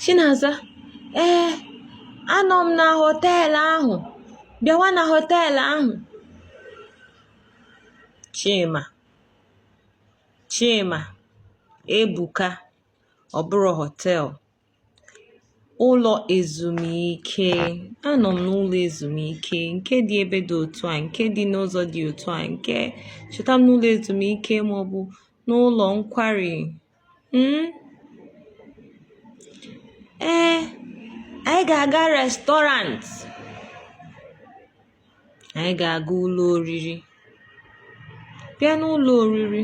Chinaza, ee, anọ m na họteelụ ahụ. Bịawa na họteelụ ahụ. Chima, Chima, Ebuka, ọ bụrọ họteelụ. Ụlọ ezumike. Anọ m n'ụlọ ezumike nke dị ebe dị otu a, nke dị n'ụzọ dị otu a, nke chọta m n'ụlọ ezumike maọbụ n'ụlọ nkwari. Hmm? Ee, eh, anyị ga-aga restọrant. Anyị ga-aga ụlọ oriri. Bịa n'ụlọ oriri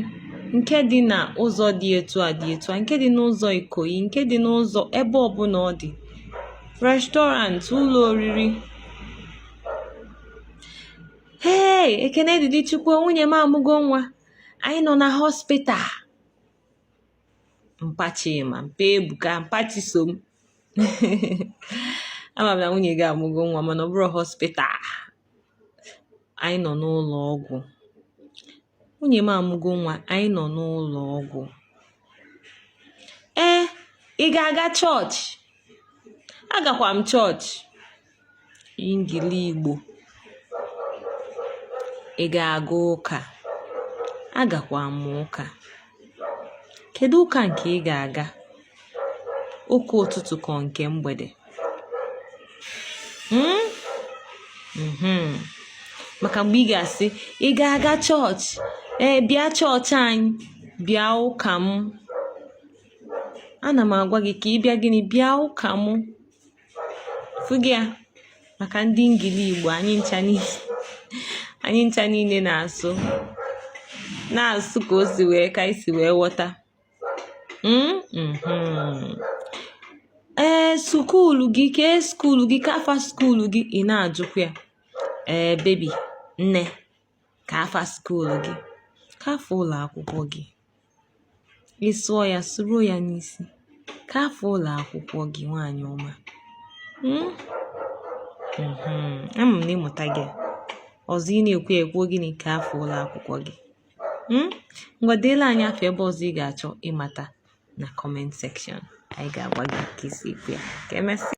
nke dị na ụzọ dị etu a dị etu a nke dị n'ụzọ Ikoyi nke dị n'ụzọ ebe ọbụla ọ dị. Restọrant, ụlọ oriri. Hey! Ekene dịrị Chukwu, nwunye m amụgo nwa. Anyị nọ na hospital. mpa Chima mpa Ebuka mpa Chisom ama m na nwunye gị amụgo nwa mana ọ bụrọ hospital anyị nọ n'ụlọ ọgwụ nwunye m amụgo nwa anyị nọ n'ụlọ ọgwụ ee ị ga-aga chọọchị agakwa m chọọchị ngili Igbo ị ga-aga ụka agakwa m ụka kedu ụka nke ị ga-aga ụka ụtụtụ ka ọ nke mgbede hmm? mhm. maka mgbe ị ga-asị ị ga-aga chọọchị ee bịa chọọchị anyị bịa ụka m ana m agwa gị ka ị bịa gịnị bịa ụka m fụgo ya maka ndị ngili igbo anyị ncha niile anyị ncha niile na-asụ na-asụ ka o si wee ka i si wee ghọta hmm? mhm. ee skuulu gị kee skuulu gị kee afa skuulu gị ị na-ajụkwa ya ee bebi nne kee afa skuul gị kee afa ụlọ akwụkwọ gị ị sụọ ya sụruo ya n'isi kee afa ụlọ akwụkwọ gị nwaanyị ọma hmm? hmm, ama m na ị mụtago ya ọzọ ị na-ekwu ya ekwuo gịnị kee afa ụlọ akwụkwọ gị hmm? ngwa deelụ anyị afa ebe ọzọ ị ga-achọ ịmata na kọment sekshọn anyị ga-agwa gị ka e si ekwu ya ka emesịa